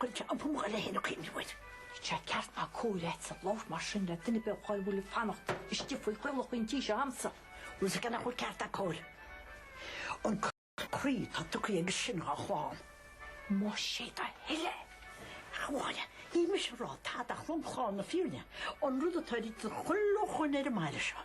Chuir sé an púnc eile féin a cuimhne uait. Níl sé ceart ná cóir agatsa labhairt mar sin le duine ar bith dhá bhfuil ag fanacht istigh faoi chaolach an tí seo agamsa. Bhfuil fhios agat nach bhfuil ceart ná cóir an croí atá tugtha aige sin dhá chlann. Más é do thoil é, a Mháire, níl mise ag rá tada ach lomchlár na fírinne an rud atá ráite ag chuile dhuine ar an mbaile seo.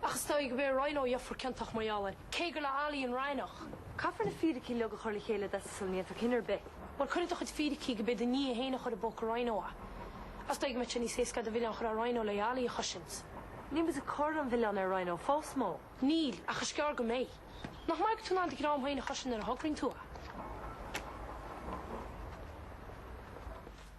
Ach is dóigh go b'é Ryan Ó a gheofar ciontach mar gheall air, cé gur le Ailí an raithneach. Caithfear na fíricí uilig a chur le chéile i dtosach sula ndéanfar cinneadh ar bith. Bhuel, cuir i do chuid fíricí go b'é do nia fhéin a chuir i bpóca Ryan Ó é. Is dóigh go mbeadh sé níos éasca duit an milleán a chur ar Ryan Ó le Ailí a chosaint. Níl muid ag cur an mhilleáin ar Ryan Ó fós, Mo. Níl, ach is gearr go mbeidh. Nach maith go bhfuil tú in ann do dhream fhéin a chosaint nuair a thograíonn tú é.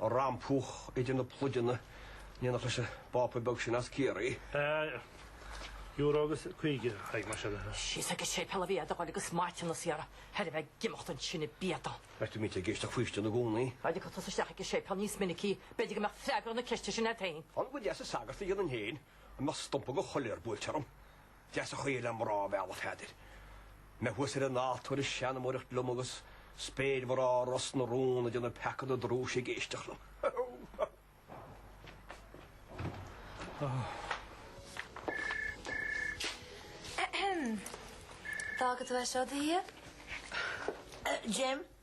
ag rampúch idir na pluideanna in éineacht leis an bpápa beag sin as Ciarraí. Euro agus caoga a Thaidhg. Síos ag an séipéal ab fhearr duit a dhul agus maithiúnas a iarraidh thar a bheith ag imeacht ansin i bpiata. Bheadh mise ag éisteacht faoistine i gcónaí. Dá dtiocfá tusa isteach ag an séipéal níos minicí? B'fhéidir go mbeadh freagra na ceiste sin agat féin. Nach deas an sagart a dhéanfainn féin dá mbeadh stumpa de choiléar buailte orm? deas an chaoi le mná a mhealladh, a Pheadair. Mé thuas ar an altóir ag seanmóireacht liom agus spéirmhná Ros na Rún ag déanamh peaca na drúise ag éisteacht liom. Ar fhág tú é seo i do dhiaidh? Jim,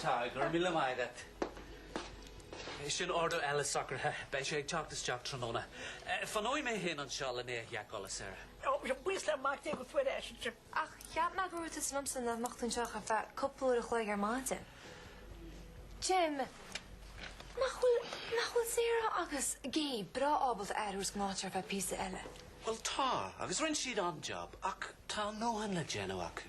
Tá, go raibh míle maith agat. Sin ordú eile socraithe, beidh sé ag teacht isteach tráthnóna. Fanóidh mé féin anseo lena sheiceáil, Sarah. Ach cheap mé go ndúirt tusa liomsa nach mbeifeá anseo ach ar feadh cúpla uair a chloig ar maidin. Jim, nach bhfuil, nach bhfuil Sarah agus Gabe breá ábalta aire a thabhairt don áit ar feadh píosa eile? Bhuel, tá, agus rinne siad an-job, ach tá an ndóthain le déanamh acu.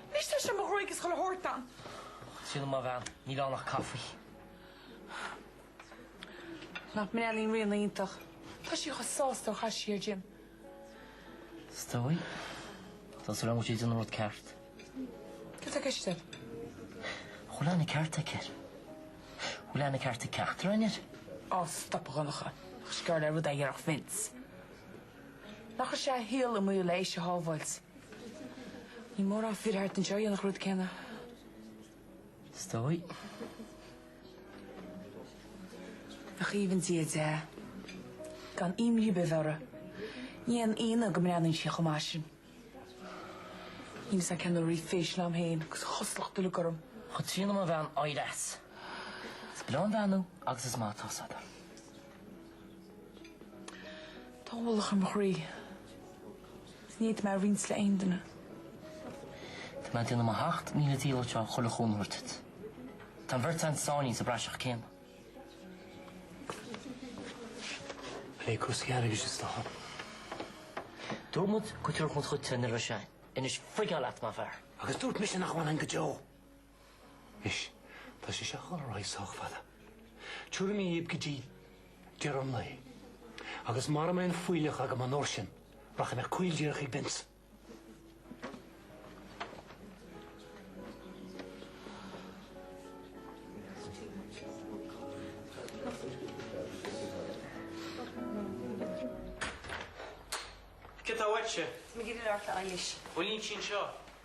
Níl sé sin mo ghréig is dhul a thabhairt dom. Sílim mo bhean, níl ann ach caife. Nach mbreathnaíonn Ríona iontach. Tá sí chomh sásta ó chas sí ar Jim. Is dóigh. Tá súil agam go bhfuil sí ag déanamh an rud ceart. Céard atá i gceist agat? An bhfuil aithne cheart aici air? An bhfuil aithne cheart ag ceachtar againn air? Á, stop, a Dhonncha. Ach is geall le rud é a déarfadh Vince. Nár chuir sé a shaol i mbaol le í a shábháilt. Ní mórán fir thart anseo a dhéanfadh an rud céanna. Is dóigh. Nach aoibhinn Dia di, gan imní ar bith a bheith uirthi, ní haon ionadh go mbreathnaíonn sí chomh maith sin. Níl fhios a'm cén uair a bhí facial a'm féin agus a chosúlacht uilig orm. Chomh trína mo bhean oighreas is breá an bhean thú agus is maith atá fhios a'd é. Tá ualach ar mo chroí. Is ní fhéadfaidh mé é a roinnt le aon duine. Tá mé ag déanamh mo sheacht míle dícheall le chuile chúnamh a thabhairt duit. Tá an bheirt a'inn sáinnithe sa bpraiseach céanna. Plé cúrsaí airgid is dócha. Dúirt muid go dtabharfadh muid cuid de nuair a bheas sé. Anois, feiceáil leat, má bhfearr. Agus dúirt mise nach bhfanfainn go deo. Anois, tá sé seo ag dul ar aghaidh sách fada. Tiúrfaidh mé dhaoibh go dtí deireadh an lae. Agus mara mbeidh an fuílleach agam an uair sin, rachaidh mé caol díreach chuig Binns. Cé tá uaitse? Mé ag caint leat a Eilish. Bhuel, níl sin seo.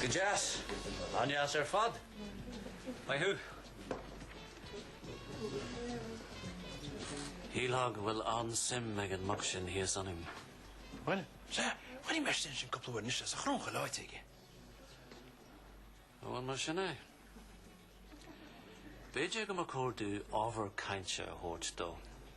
Go deas. An-deas ar fad. Maith thú. Shílfeá go bhfuil an-suim ag an mac sin thíos ionainn. Bhuel, sea, chuirfidh mé isteach ansin cúpla uair anois le sa chrúncha leáite aige. Bhuel, mar sin é. B'fhéidir go mba chóir dúinn ábhar cainte a thabhairt dó.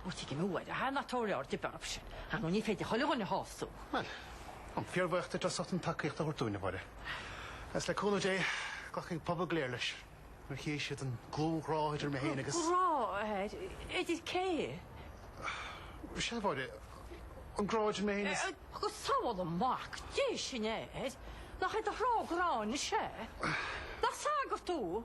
Ó tuigim, nuair a thagann an toradh ort, dabht ar bith faoi sin. Ar ndóigh, ní féidir chuile dhuine a shásamh. Bhuel, táim fíorbhuíoch díot as ucht an tacaíocht a thabhairt dúinn, a Mháire. Agus le cúnamh Dé, glacfaidh an pobal go léir leis, nuair a chífidh siad an glan-ghrá idir mé féin agus... Grá? Idir cé? Is ea, a Mháire, an grá idir mé féin is... Go sabhála Mac Dé sinn! Nach é do ghrá an grá is ea? Nach sagart thú?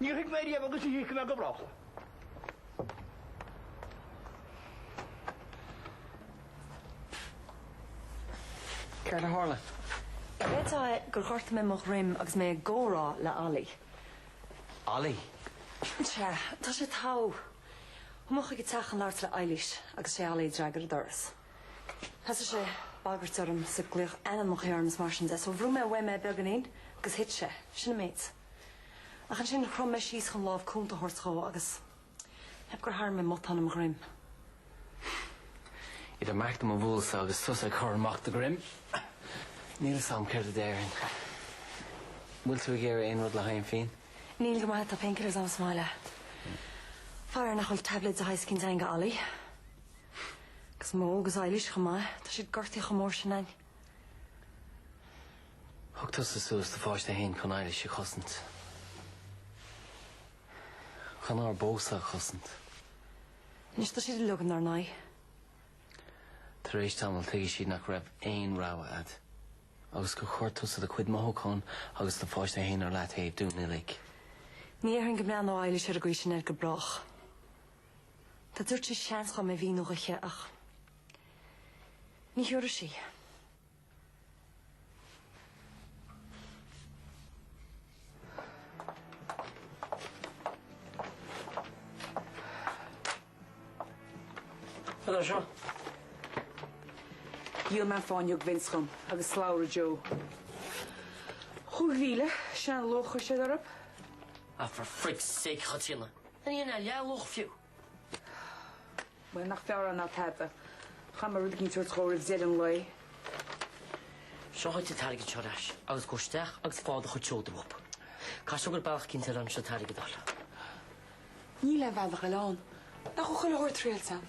Níor thuig mé riamh agus ní thuigfidh mé go brách. Céard a tharla? Is dóigh gur ghortaigh mé mo dhroim agus mé ag comhrá le Ollie. Ollie? Sea, tá sé togha. Chuaigh mé chuig a teach ag labhairt le Eilís agus sé Ollie a d'fhreagair an doras. Thosaigh sé ag bagairt orm is ag glaoch ainmneacha orm agus mar sin de so bhrúigh mé uaim é beagáinín agus thit sé. Sin an méid. Ach ansin, chrom mé síos chun lámh cúnta a thabhairt dhó agus, b'fhéidir gur tharraing mé matán i mo dhroim. Idir mé féin mo mhiúil agus tusa ag cur amach do dhroim, níl 'fhios a'm céard a déarfainn. An bhfuil tú ag iarraidh aon rud le haghaidh an phian? Níl go raibh maith a'd, tá painkillers a'm sa mbaile. Faraor nach bhfuil tablets de shaghas eicínt a'inn do Ollie. Agus Mo agus Eilís chomh maith, tá siad gortaithe chomh mór sin a'inn. Thug tusa suas do pháiste fhéin chun Eilís a chosaint. Chun ár bpósadh a chosaint. Anois tá siad uilig in ár n-aghaidh. Tar éis tamaill tuigfidh siad nach raibh aon rogha agat. Agus gur chuir tusa do chuid mothúchán agus do pháiste fhéin ar leataobh dúinn uilig. Ní dhéarfainn go mbreathnódh Eilís ar an gcaoi sin air go brách. Dá dtiúrfadh sí seans dhom é a mhíniú dhise ach ní thiúrfaidh sí. Cad é seo? Dhíol mé fáinne a thug Vince dhom agus slabhra Joe. Chúig mhíle, sin an luach a chuir siad orthub. Ah for frig's sake a Chaitríona, ní hin a leathluach fiú? Bhuel, nach fearr é ná tada. Caithfidh mé rud éicint a thabhairt dhó roimh deireadh an lae. Seo dhuit an t-airgead seo ar ais agus gabh isteach agus faigh do chuid seoda uathub. Caithfidh sé go bhfuil bealach eicínt eile ann an t-airgead a fháil. Níl aon bhealach eile ann. Nach bhfuil chuile shórt triailte agam?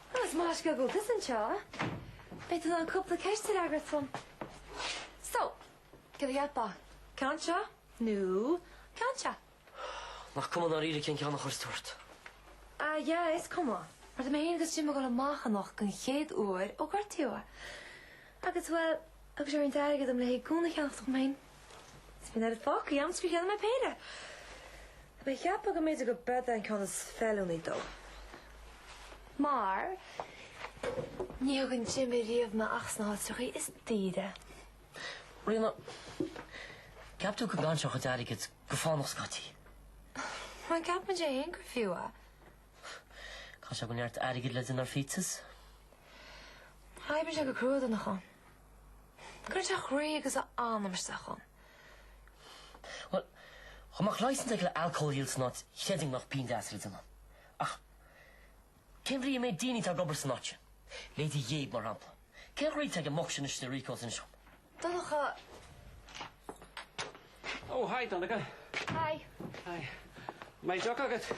Agus más scéal go bhfuil tusa anseo, beidh tú in ann cúpla ceist a fhreagairt dhom. So, cad a cheapfá? Ceann seo nó ceann seo? Nach cuma dáiríre cén ceann a chuirfeas tú ort? Ah, yeah, is cuma. Mar tá mé féin agus Jimmy ag goil amach anocht gon chéad uair ó gortaíodh é. Agus, well, thug sé an t-airgead dhom le haghaidh gúna a cheannacht dhom fhéin Is bhí an oiread fágtha agam gur cheannaigh mé péire. Mé ag ceapadh go mb'fhéidir gurb eod é an ceann is feiliúnaí dó. Mar ní thugann Jimmy riamh mé amach sna háiteachaí is daoire. Ríona, an gceapann tú go gcaitheann tú a chuid airgid go fánach scaití? Má cheapann sé fhéin gur fiú é. Caithfidh sé go bhfuil neart airgid le déanamh ar phíotsas. Oibríonn sé go crua do na. Cur a chroí agus a anam isteach ann? Bhuel, dhá mbeadh licence aige le alcól a dhíol san áit chreidfinn go mbeadh pingin deas le déanamh ann. Ach cén bhrí an méid daoine atá ag obair san áit sin, leithéidí Dave mar shampla, cén ghraithe atá ag an mboc sin istigh le Rico san siopa? Donncha. Ó, haigh Donncha. Haigh. Haigh. An mbeidh deoch agat?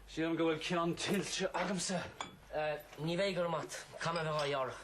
Sílim go bhfuil ceann tuillte agamsa. Ní bheidh, go raibh maith agat. Cad a bheadh á dheárach?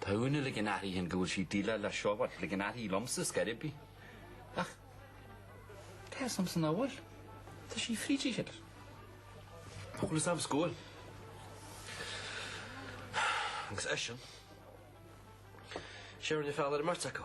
Tá uaine le gin aithrí ann go bhfuil sí díleá le siubhal, le gin aithrí liomsa is gaire ar bith. Ach cé as am san amhail tá sí fríd sí cheilr? An chuile sam is gual. Agus eisean, sé rinne feall ar an mbeirt acu.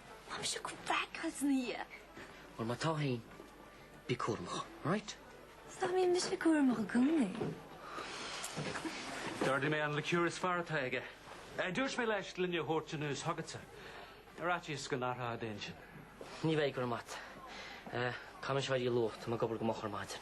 Tá mé seo go breá as an oíche. Bhuel, má tá fhéin, bí cúramach, right? Ach bíonn mise cúramach i gcónaí. D'ordaigh mé an liqueur is fearr atá aige. Dúirt mé leis gloine a thabhairt anuas chugatsa. Ar fhaitíos go n-athrófá d'intinn. Ní bheidh go raibh maith agat. Tá mise ag dul a luí luath, tá mé ag obair go moch ar maidin.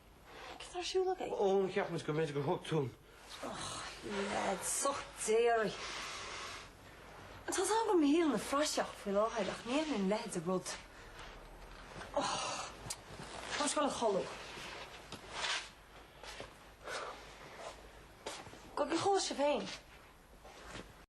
Cad ar siúl agaibh? Ó, cheap muid go mb'fhéidir gur thug tú an. Och, leid, soch déaraidh. Tá a fhios agam go bhfuil an halla ina phraiseach faoi láthair ach ní fheicim leithéid de rud. Och, tá mé ag goil a chodladh. Go bhfios aige féin.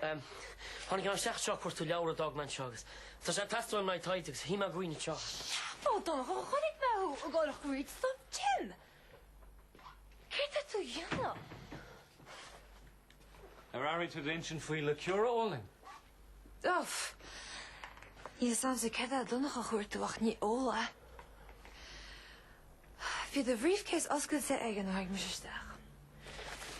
Tháinig mé isteach anseo ag cuartú leabhar a d'fhág mé anseo agus tá sé ag teastáil uaim le haghaidh taighde agus shuigh mé anseo. Dá bhfaca. Chonaic mé thú ag goil tríd. Céard atá tú a dhéanamh? Ná habair tada ansin faoi liqueur, a Eoin? Uff! Níl a fhios agamsa céard atá Donncha a chuartú ach ní ola. Bhí do bhriefcase oscailte aige nuair a tháinig mise isteach.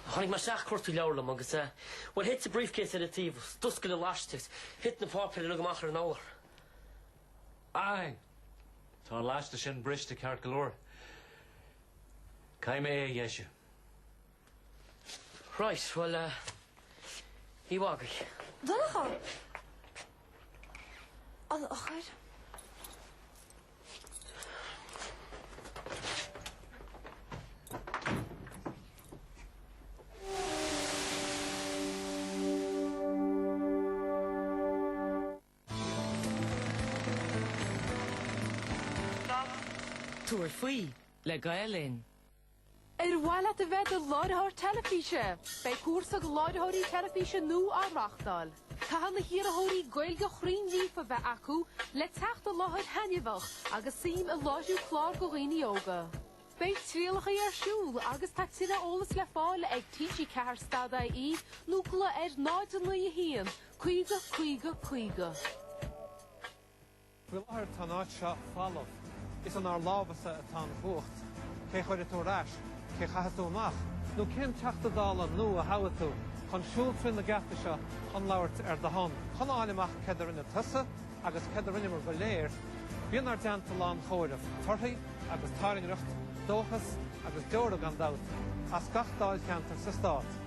Tháinig mé isteach ag cuartú leabhar liom agus eh, bhuel thit do bhriefcase ar an taobh, d'fhoscail an laiste, thit na páipéir uilig amach ar an urlár. Fine! Tá an laiste sin briste ceart go leor. Caithfidh mé é a dheisiú. Right, bhuel eh, ní bhfágaidh. Donncha! An eochair. Tabhair faoi le Gael Linn. Ar mhaith leat a bheith i do láithreoir teilifíse? Beidh cúrsa do láithreoirí teilifíse nua á reáchtáil. Caithfidh na hiarrthóirí Gaeilge chruinn líofa a bheith acu le teacht i láthair thaitneamhach agus suim i láithriú cláir do dhaoine óga. Beidh trialacha ar siúl agus tá tuilleadh eolas le fáil ag TG4 stad ie nó glaoigh ar 091 50 50 50. Faoi láthair tá an áit seo falamh. Is inár lámhasa atá an chumhacht. Cé chuirfidh tú ar ais? Cé chaithfidh tú amach? Nó cén Teachta Dála nua a thoghfaidh tú chun siúl trí na geataí seo chun labhairt ar do shon? Chun a fháil amach céard a rinne tusa agus céard a rinneamar go léir, bí inár dteannta lá an chomhairimh, torthaí agus tairngreacht, dóchas agus deora gan dabht, as gach dáilcheantar sa stát.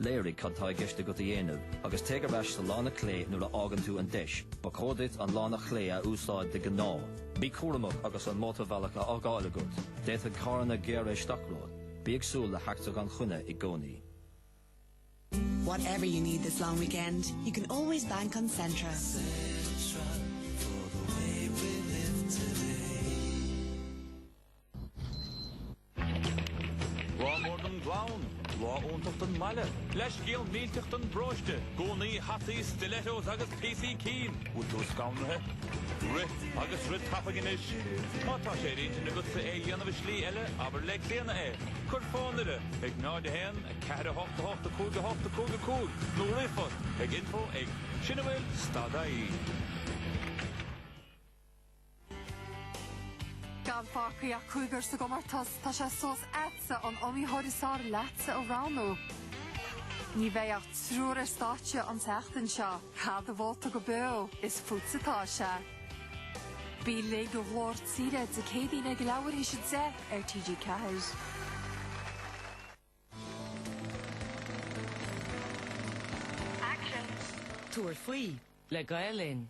Léirigh cad tá i gceist agat a dhéanamh agus téigh ar ais sa lána clé nuair a fhaigheann tú an deis. Ba chóir duit an lána clé a úsáid de ghnáth. Bí cúramach agus an mótarbhealach á fhágáil agat, d'fhéadfadh carranna gearradh isteach romhat. Bí ag súil le heachtra gan choinne i gcónaí. Whatever you need this long weekend, you can always bank on Centra. Centra for the way we live today. Lá mór don gclann, lá iontach don mbaile, leithscéal millteach don bparóiste, gúnaí, hataí, stilettos agus píosaí cinn, bhfuil tú scanraithe? Rith agus rith tapaidh anois. Má tá sé ar intinn agatsa é a dhéanamh i slí eile, abair le Clíodhna é. Cuir fón uirthi ag 01 4 8 8 5 8 5 5 nó ríomhphost ag info ag Sin a bhfuil stad ie. Gan fágthaí ach cúigear sa gcomórtas, tá sé suas agatsa an iomaitheoir is fearr leatsa a roghnú. Ní bheidh ach triúr ar stáitse an tseachtain seo. Caith do vóta go beo, is fútsa atá sé. Bí linn do Ghlór Tíre Dé Céadaoin ag a leathuair théis a deich ar TG4. Tabhair faoi le Gael Linn.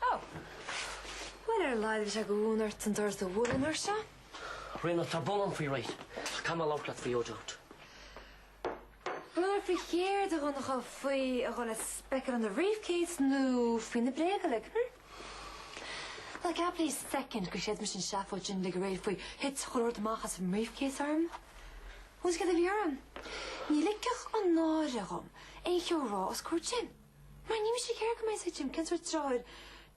Oh! Bhuel, ar a laghad bhí sé de mhúineadh ort an doras a bhualadh an uair seo. Ríona, tá brón orm faoi aréir. Ach caithfidh mé labhairt leat faoi O'Dowd? B'fhearr faoi chéard a Dhonncha faoi a dhul ag speiceáil i mo bhriefcase nó faoi na bréaga uilig, hm? Ná ceap ar feadh second gur chreid mise an tseafóid sin uilig aréir faoi thit chuile shórt amach as an mbriefcase orm. Is céard a bhí orm? Ní ligfeadh an náire dhom aon cheo a rá os comhair Tim. Mar ní raibh mise ag iarraidh go mbeadh a fhios ag Tim cén sórt deartháir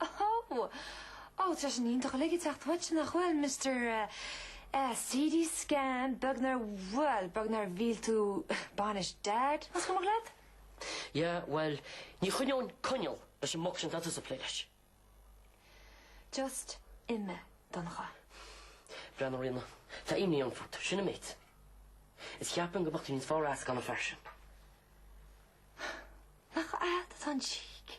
Ó! Ó, tá sin iontach uilig ag teacht uait, nach bhfuil, Mister CT Scan, beag nár, bhuel, beag nár mhill tú bainis Dad, más cuimhin leat? Yeah, bhuel, ní choinneoinn coinneal leis an muc sin atá tusa ag plé leis. Just imigh, Donncha. Breathnaigh, Ríona, tá imní orm fút, sin an méid. Is cheapfainn go mbeadh tú níos fearr as gan an fear sin. Nach agat atá an cheek?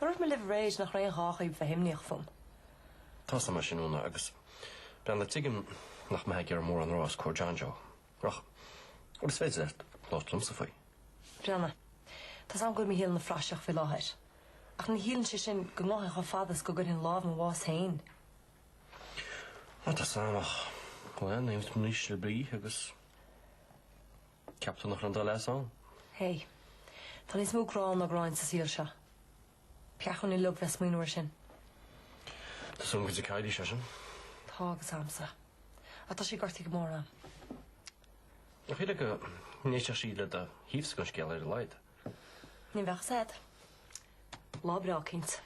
Dúirt mé libh aréir nach raibh aon ghá dhaoibh a bheith imníoch fúm. Tá's am é sin Úna agus bhuel tuigim nach mbeifeá ag iarraidh mórán a rá os comhair John Joe. Ach is féidir leat labhairt liomsa faoi. Breathnaigh, Tá's am go bhfuil mo shaol ina phraiseach faoi láthair. Ach ní chiallaíonn sé sin go ngabhfainn chomh fada is go gcuirfinn lámh i mo bhás féin. Ó tá's am ach bhuel ní fhuil tú níos slibí agus. Cheap tú nach raibh aon dul as ann? Hé. Tá níos mó grá ná gráin sa saol seo. Ba cheart dúinn uilig bheith smaoineamh air sin. Tá súil agam go dtuigfidh Lee é sin. Tá agus agamsa. Ach tá sí gortaithe go mór a'm. Ach shílfeá go n-éistfeadh sí le do thaobhsa den scéal ar a laghad. Ní bheadh a fhios a'd. Lá breá cinnte.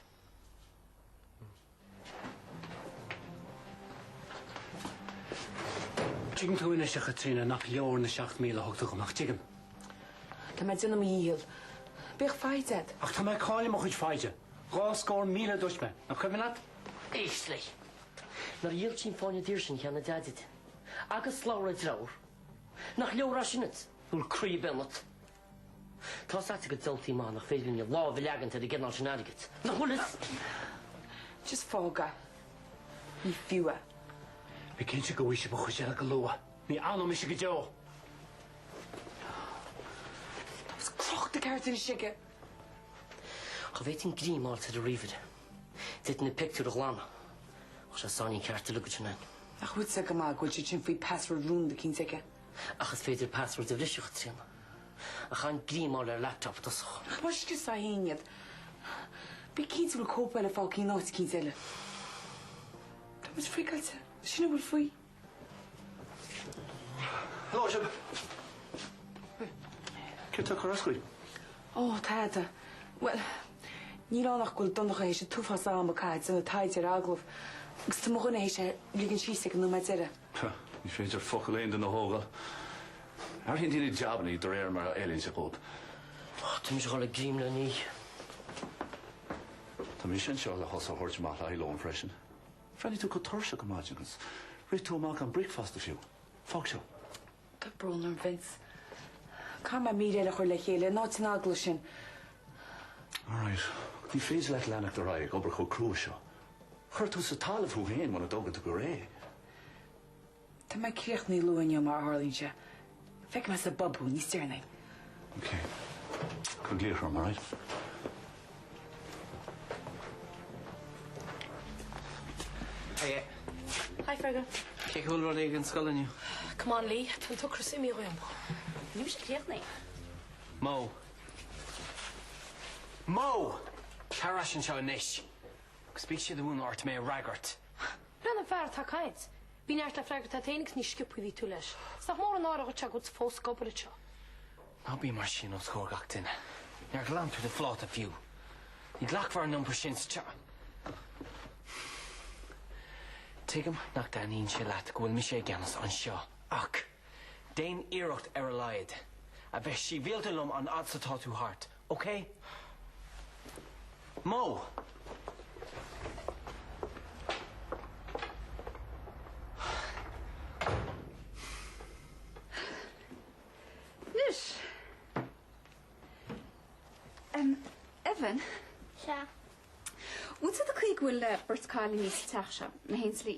Tuigeann tú anois, a Chaitríona, nach leor na seacht míle a thug tú dhom, ach tuigim. Tá mé ag déanamh mo dhícheall. Bíodh foighid a'd. Ach tá mé ag cailleadh mo chuid foighde. Dhá scór míle a dúirt mé. Nach cuimhin leat? Éist leis. Nuair a dhíol tú an fáinne daor sin a cheannaigh do Dhaid duit agus slabhra do dhearthár, nach leor sin duit? Bhfuil croí ar bith ionat? Tá a fhios a'd go diabhaltaí maith nach féidir linn a lámh a leagaint ar an gcineál sin airgid. Nach bhfuil fhios? Just fág é. Ní fiú. Bí cinnte go bhfaighidh mé an chuid eile go luath. Ní fhanfaidh mise go deo. Tá muid crochta i gceart anois aige. Dá bhféadfainn greim a fháil ar an ríomhaire, d'fhéadfainn na pictiúir a ghlanadh. Tá sé sáinín ceart a ligean sin ann. Nach bhfuil fhios a'd go maith go bhfuil siad sin faoi password rúnda cinnte aige? ach is féidir password a bhriseadh trína a chan greim a fháil ar laptop i dtosach. Ach má scriostar fhéin iad, bí cinnte go bhfuil cóip eile fágtha in áit eicínt eile. Tá muid friogáilte. Sin a bhfuil faoi. Hello sibh! Céard atá ag cur as dhaoibh? Ó, tada. Bhuel, níl ann ach go bhfuil Donncha théis an t-uafás ama a chaitheamh ag déanamh taighde ar agallamh agus tá mo dhuine théis é a ligean síos ag an nóiméad deireadh. Ní féidir focal aon duine a thógáil. Athraíonn daoine jabannaí de réir mar a fheileann sé dhóibh. Tá mise ag dhul ag ithe mo lóin. Tá mise anseo le thusa a thabhairt amach le haghaidh lóin freisin. Bhreathnaigh tú chomh tuirseach ar maidin agus rith tú amach gan bricfeasta fiú. Fág seo. Tá brón orm, Vince. Caithfidh mé mír eile a chur le chéile in áit an agallaimh sin? All right. Ní féidir leat leanacht ar aghaidh ag obair chomh crua seo. Cuirfidh tú sa talamh thú féin muna dtógann tú go réidh. Tá mé críochnaí luath inniu mar a tharlaíonn sé. Feicfidh mé sa bpub thú níos deireanaí. OK. Cuir glaoch orm, all right? Hiya. Hi Fergal. Cén chaoi a raibh rudaí ag an scoil inniu? Come on Lee, tá an t-ocras imithe dhíom. Níl mise críochnaithe. Mo! Mo! Tar ais anseo anois, agus bíodh sé de mhúineadh ort mé a fhreagairt. Breathnaigh an fear atá ag caint Bhí neart le freagairt agat fhéin agus ní sciobtha a bhí tú leis. Is nach mór an náire dhuitse agus tú fós ag obair anseo. Ná bí mar sin os comhair gach duine. Níor ghlan tú do phláta fiú. Ní ghlacfar an iompar sin sa teach. Tuigim nach dtaitníonn sé leat go bhfuil mise i gceannas anseo ach. Déan iarracht ar a laghad a bheith síbhialta liom an fhad 's atá tú thart, ok? Anois, Evan. Sea? Bhfuil tú ok leis an gcaoi go bhfuil beirt chailíní sa teach seo, in aon slí?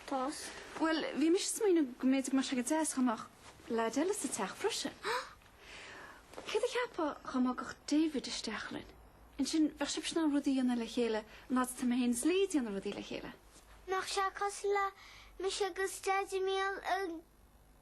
Tost. Bhuel, bhí mise ag smaoineamh go mb'fhéidir go mbeadh sé go deas dá mbeadh leaid eile sa teach freisin. Céard a cheapfá dhá mbogfadh David isteach linn? Ansin bheadh sibhse in ann rudaí a dhéanamh le chéile an fhad atá mé féin is Lee ag déanamh rudaí le chéile. Nach sé cosúil le mise agus Deaidí Míol i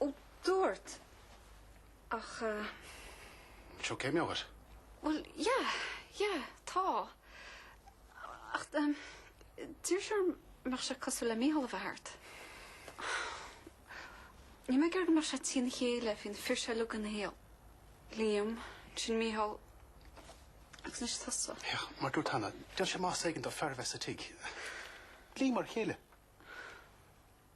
Ó, dúirt. Ach eh. Sórt imní agat? Bhuel, yeah, yeah, tá. Ach eh, d'iarr sé orm an mbeadh sé cosúil le Micheál a bheith thart. Níl mé ag iarraidh go mbeadh sé ag titim óna chéile faoi na fir seo uilig ina shaol. Liam, sin Micheál, agus anois tusa. Yeah, mar dúirt Hannah, d'fhan sé mar b'éigean do fear a bheith sa tigh. Liam mar a chéile.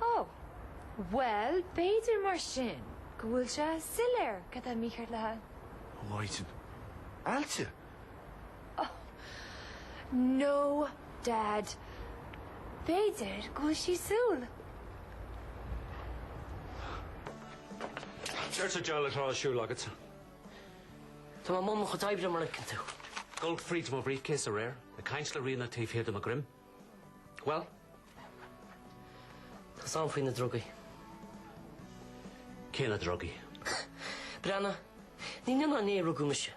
Ó, bhuel, b'fhéidir mar sin go bhfuil sé soiléir cad atá mícheart léi. Ó, Mhaighdean Álainn! Ó, no, Dad, b'fhéidir go bhfuil sí súil. Céard sa diabhal atá ar siúl agatsa? Tá mé i mbun mo chuid oibre, mar a fheiceann tú. Dul fríd mo bhrífcéas aréir, ag caint le Ríona taobh thiar de mo dhroim. Bhuel, tá a fhios agam faoi na drugaí. Cé na drugaí? Breathnaigh, ní inné ná inniu a rugadh mise.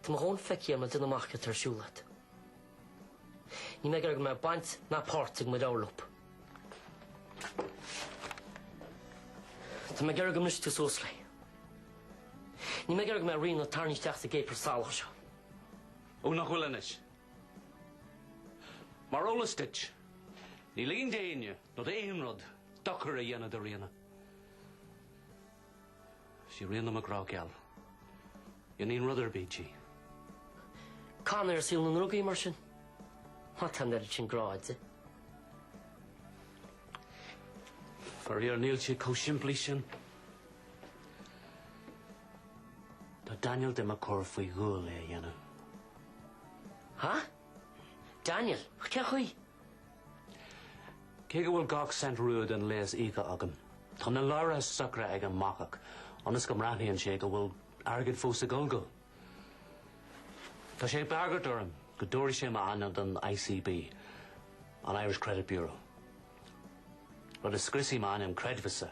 Tá mé i ndon feiceáil, a amadáin, cad atá ar siúl agat. Níl mé ag iarraidh go mbeadh baint ná páirt ag m'iníon leob. Tá mé ag iarraidh go mbrisfeadh tú suas léi. Níl mé ag iarraidh go mbeadh Ríona tarraingthe isteach sa gcéapar salach seo. Ó, nach bhfuil anois. Mar eolas duit, níl aon duine nó aon rud le dochar a dhéanamh do Ríona. Sí Ríona mo ghrá geal. Dhéanfainn rud ar bith di. Caith uait saol na ndrugaí mar sin? Má tá an oiread sin grá agat di. Faraor níl sé chomh simplí sin. Tá Daniel do mo chur faoi dhualgas é a dhéanamh. Ha? Daniel? Cé chaoi? Cé go bhfuil gach cent rua den léas íoctha agam, tá na leabhartha socra ag an mbacach, ionas go mbreathnaíonn sé go bhfuil airgead fós ag dul dó. Tá sé ag bagairt orm go dtabharfaidh sé m'ainm don ICB, an Irish Credit Bureau. Rud a scriosfaidh m'ainm creidmheasa,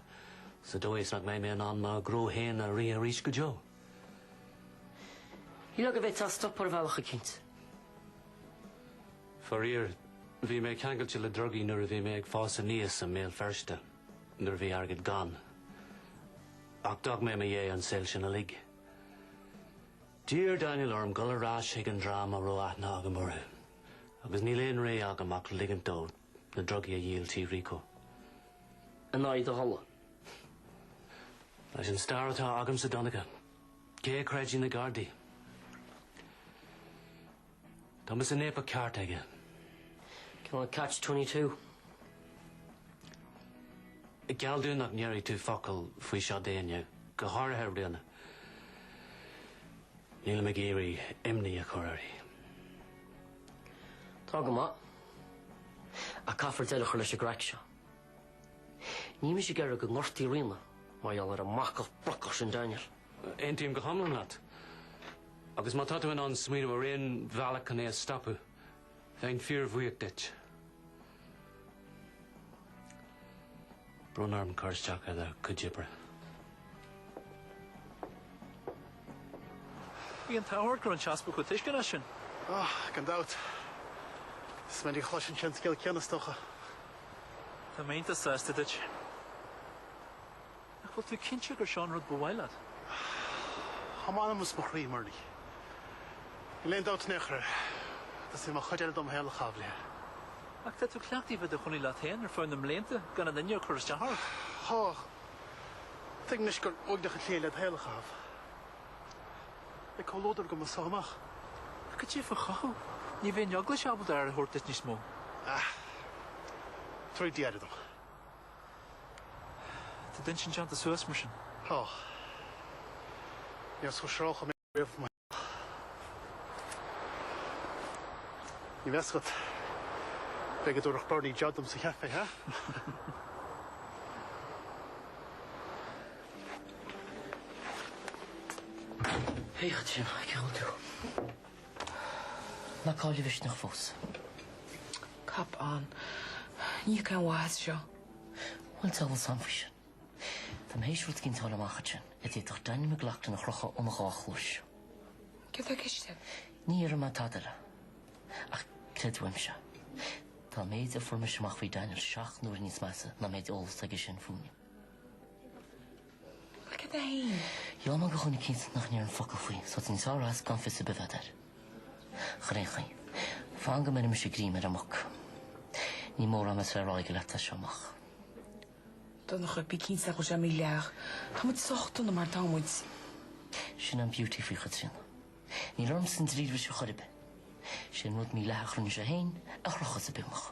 sa dóigh is nach mbeidh mé in ann mo ghnó féin a rith arís go deo. Ní lia go bhféadfá é a stopadh ar bhealach eicínt. Faraor, bhí mé ceangailte le drugaí nuair a bhí mé ag fás aníos i mBéal Feirste, nuair a bhí airgead gann. Ach d'fhág mé i mo dhiaidh an saol sin uilig. D'iarr Daniel orm dul ar ais chuig an dream a raibh aithne agam orthu, agus níl aon rogha agam ach ligint dó na drugaí a dhíol trí Rico. In aghaidh do thola. Leis an stair atá agamsa, a Dhonncha, cé a chreidfidh na Gardaí? Tá mise in éipeacht ceart aige. Cineál catch twenty two. Ach geall dom nach ndéarfaidh tú focal faoi seo d'éinne, go háirithe Ríona. Nílim ag iarraidh imní a chur uirthi. Tá go maith. Ach caithfear deireadh a chur leis an gcraic seo. Níl mise ag iarraidh go ngortófaí Ríona mar gheall ar an mbacach brocach sin Daniel. Aontaím go hiomlán leat. Agus má tá tú in ann smaoineamh ar aon bhealach chun é a stopadh, bheinn fíorbhuíoch duit. Brón orm cur isteach ar do chuid oibre. Bhí an t-ádh ort go raibh an tEaspag chomh tuisceanach sin. Ó, gan dabht. Is minic a chloiseann sé an scéal céanna, is dócha. Tá mé an-sásta duit. Ach an bhfuil tú cinnte gur seo an rud ba mhaith leat? Tá m'anam is mo chroí i mBerni! Níl aon dabht in aon chor air, teastaíonn uaim an chuid eile de mo shaol a chaitheamh léithi. Ach tá tú cleachtaithe bheith i do chónaí leat féin ar feadh na mblianta gan aon duine ag cur isteach ort. Á, tuigim anois gur uaigneach an tslí é le do shaol a chaitheamh. Beidh comhluadar agam as seo amach. Ach goidé faoi do chothú, ní bheidh an Eaglais ábalta aire a thabhairt duit níos mó. Á, tabharfaidh Dia aire dom. Tá d'intinn déanta suas mar sin. Tá. Níor shroicheadh mé riamh mo theach. Ní bheadh a fhios agat, b'fhéidir go dtabharfadh Berni job dom sa chaifé, hea? Féach ansin, ceann tú. Ná caill do mhisneach fós? Cop on. Ní thiocfaidh aon mhaith as seo. Bhuel, tá a bhfuil san faoi sin. Tá mé théis rud eicínt a fháil amach ansin a d'fhéadfadh Daniel McLaughlin a chrochadh óna dhá chluais. Céard tá i gceist agat? Ní déarfaidh mé tada eile. Ach creid uaimse, tá an méid a fuair mise amach faoi Daniel seacht n-uaire níos measa ná an méid eolais atá aige sin fúinne. Look at the hay. Gheall mé do dhuine eicínt nach ndéarfainn focal faoi, so tá tú níos fearr as gan fios ar bith a bheith a'd, ar aon chaoi. Fan go mbeirimse greim ar an mac. Ní mórán a bheas le rá aige leat as seo amach. Donncha, Bí cinnte go bhfuil sé mídhleathach. Tá muid sách dona mar atá muid. Sin an beauty faoi Chaitríona. Níl ormsa an dríolbhris ar chor ar bith. Sé an rud mídhleathach a rinne sé féin a chrochfas an bithiúnach.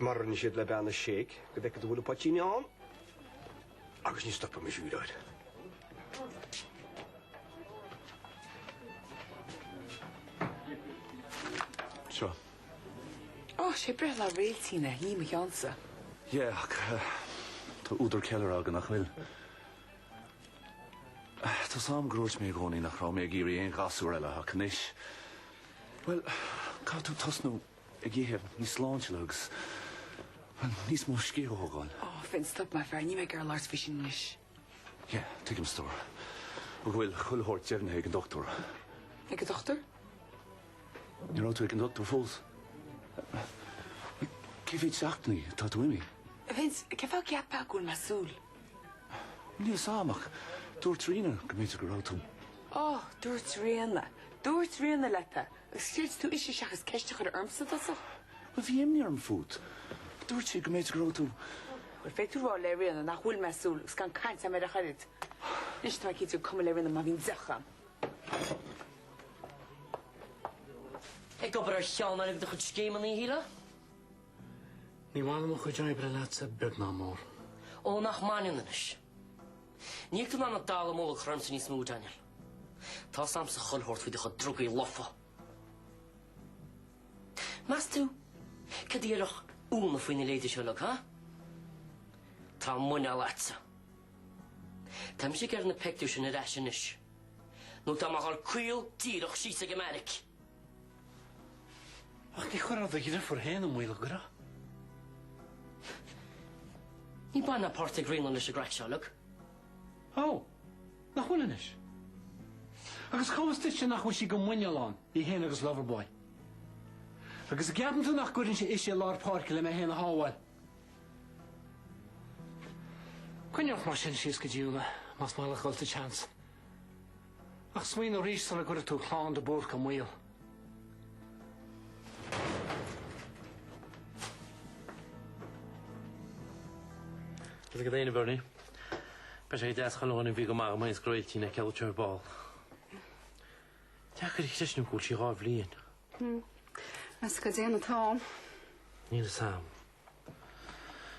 Má rinne siad le bean a séic, go bhfeicfead a bhfuil an poitín ann agus ní stopaimis a úireáil. Seo. Ó, sé breithlá Réailtín é, ní mo cheannsa. Yeah, ach tá údar ceiliúrtha againn, nach bhfuil? Tá a fhios a'm gur dhúirt mé i gcónaí nach raibh mé ag iarraidh aon ghasúr eile ach anois, bhuel, caithfidh tú tosnú. ag ithe níos sláintiúla agus níos mó scíth a thógáil. Ó, Vince, stop maith an fear, níl mé ag iarraidh labhairt faoi sin anois. Yeah, tuigim, Stór. Nó go bhfuil chuile shórt deimhnithe ag an dochtúir. Ag an dochtúir? Ní raibh tú ag an dochtúir fós. Cé mhéad seachtainí atá tú imithe? Vince, cé fáth a gceapfá go bhfuil mé ag súil? Níl a fhios a'm ach dúirt Ríona go mb'fhéidir go raibh tú. Ó, dúirt Ríona. Dúirt Ríona leat é. Agus chreid tú ise seachas ceist a chur ormsa i dtosach? Bhuel, bhí imní orm fút. Dúirt sí go mb'fhéidir go raibh tú. Bhuel, féadfaidh tú rá le Ríona nach bhfuil mé ag súil agus gan caint agam ar a oiread. Anois tá mé cinnte gur cuma le Ríona má bhíonn deoch a'm. Ag obair ar cheann de do chuid scéimeanna, a Shíle? Ní bhaineann mo chuid oibre leatsa beag ná mór. Ó, nach mbaineann anois. Níl tú in ann an dallamullóg a chur ormsa níos mó, Daniel. Tá a fhios a'msa chuile shórt faoi do chuid drugaí lofa. Meas tú cad a déarfadh Úna faoi na ladies seo uilig, ha? Tá muineál leatsa. Táimse ag iarraidh na pictiúir sin ar ais anois, nó tá mé ag goil caol díreach síos ag an mbeairic. Ach ní chuirfeá do dhriofúr féin i mbaol, a' gcuirfeá? Níl baint ná páirt ag Ríona leis an gcraic seo uilig. Ó! Nach bhfuil anois? Agus cá bhfios duitse nach bhfuil sí go muineál ann, í fhéin agus Loverboy? Agus a' gceapann tú nach gcuirfinnse ise i lár páirce le mé fhéin a shábháil? Coinnigh ort mar sin síos go dtí Úna, más maith leat dhul sa tseans. Ach smaoinigh arís sula gcuirfidh tú clann de Búrca i mbaol. Is ag Daniel O'Byrne, beidh sé deas. Tá an-dóigh orm go mbeidh an scroilltín ag ceiliúradh ar ball. Deacair a chreistiúint go bhfuil sí dhá bhliain. Meas tú cá dtéann an t-am. Níl fhios a'm.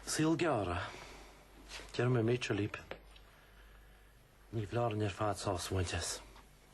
Saol gearr, a? Deir mé Major Leap. Ní foláir dúinn ar fad sásamh a bhaint as.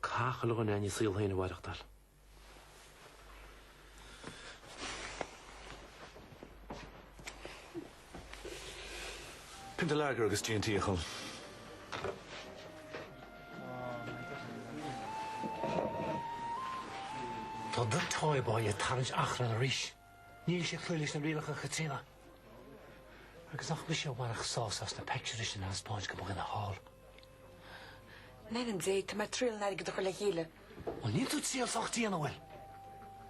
Cathal Ó Coileáin Ní saol féin a mhaireachtáil. Pionta Lager agus G an tSaol. Tá Victoria Boyle ag tarraingt achrainn arís. Níl sé ag cloí leis na rialacha Chaitríona. Agus nach mise a bhainfeadh sásamh as na peictiúirí sin a thaispeáint do mo dhuine thall. In ainm Dé, tá mé ag triail an airgead a chur le chéile. Bhuel, níl tú ag triail sách dian, a bhfuil?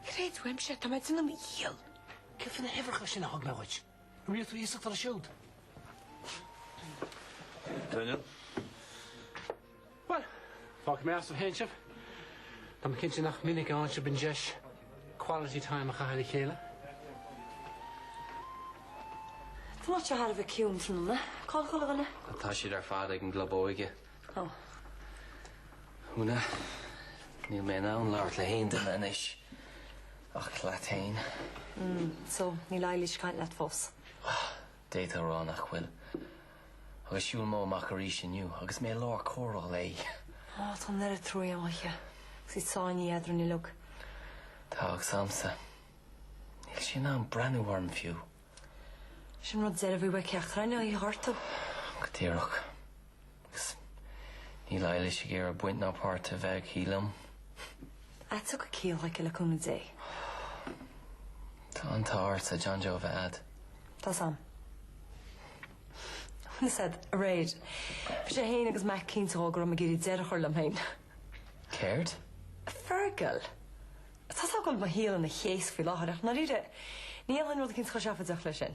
Creid uaimse, tá mé ag déanamh mo dhícheall. Céard faoi na huimhreacha sin a thug mé dhuit? Ar iarr tú iasacht orthu siúd? Deineadh. Bhuel, fágfaidh mé asaibh féin sibh. Tá mé cinnte nach minic a fhaigheann sibh an deis quality time a chaitheamh le chéile. Tá muid thar a bheith ciúin tráthnóna. Cá bhfuil an bhean? Tá siad ar fad ag an gclub óige. Ó. Úna, níl mé in ann labhairt le haon duine anois. Ach leat féin. So, níl Eilís ag caint leat fós. D'fhéadfá a rá nach bhfuil. Agus shiúil Mo amach arís inniu agus mé i lár comhrá léi. Ó, tá an oiread truaighe agam di agus í sáinnithe eadrainn uilig. Tá agus agamsa. Níl sí in ann breathnú orm fiú. Sin an rud deireadh a bhí ó cheachtar againn í ghortú. Go díreach. Agus níl Eilís ag iarraidh baint ná páirt a bheith aici liom. Ach tiocfaidh ciall aici le cúnamh Dé. Tá an t-ádh ortsa John Joe a bheith a'd. Tá 's a'm. Bhfuil 's a'd aréir. Bhí sé fhéin agus Mac cinnte dhó go raibh mé ag goil deireadh a chur liom fhéin. Céard? Fergal. Tá 's a'm go bhfuil mo shaol ina chaos faoi láthair ach, dáiríre, ní dhéanfainn rud eicínt chomh seafóideach leis sin.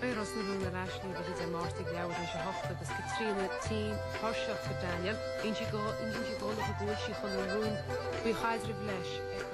Beidh Ros na Rún ar ais arís Dé Máirt ag leathuair tar éis a hOcht agus Caitríona tinn tuirseach de Daniel. Bíonn sí go, bíonn sí go, nach bhfuil sí chun an rún faoi chaidreamh leis.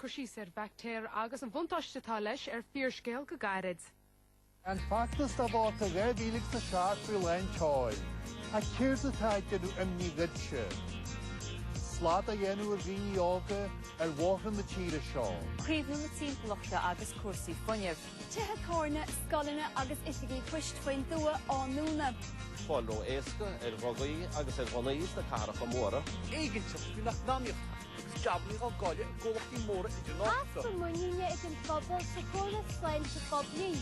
Cur síos ar bhaictéar agus an bhuntáiste atá leis ar fíorscéal go gairid. An feachtas dá vóta dhá mhíle agus a seacht faoi lán tseoil. Ach céard atá ag déanamh imní dhuitse? Slad á dhéanamh ar dhaoine óga ar bhóithre na tíre seo. Caomhnú na timpeallachta agus cúrsaí fuinnimh. tithe tábhairne, scoileanna agus oifigí poist faoin dtuath á ndúnadh. fáil ró-éasca ar dhrugaí agus ar ghunnaí sna cathracha móra. éiginnteacht faoin eacnamaíocht agus jabanna á gcailleadh i gcomhlachtaí móra idirnáisiúnta. easpa muiníne ag an phobal sa chóras sláinte phoiblí.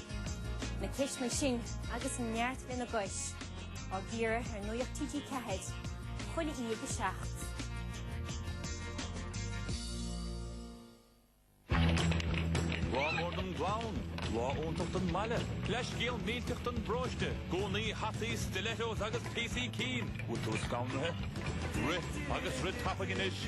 na ceisteanna sin agus neart lena gcois, á gcíoradh ar Nuacht TG4 chuile Aoine ag 7. Lá mór don gclann, lá iontach don mbaile, leithscéal millteach don bparóiste, gúnaí, hataí, stilettos agus píosaí cinn, bhfuil tú scanraithe? Rith agus rith tapaidh anois!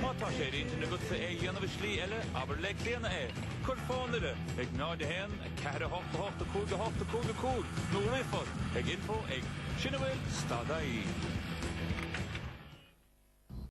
Má tá sé ar intinn agatsa é a dhéanamh i slí eile, abair le Clíona é. Cuir fón uirthi ag 01 4 8 8 5 8 5 5 nó ríomhphost ag info ag Sin a bhfuil dot ie.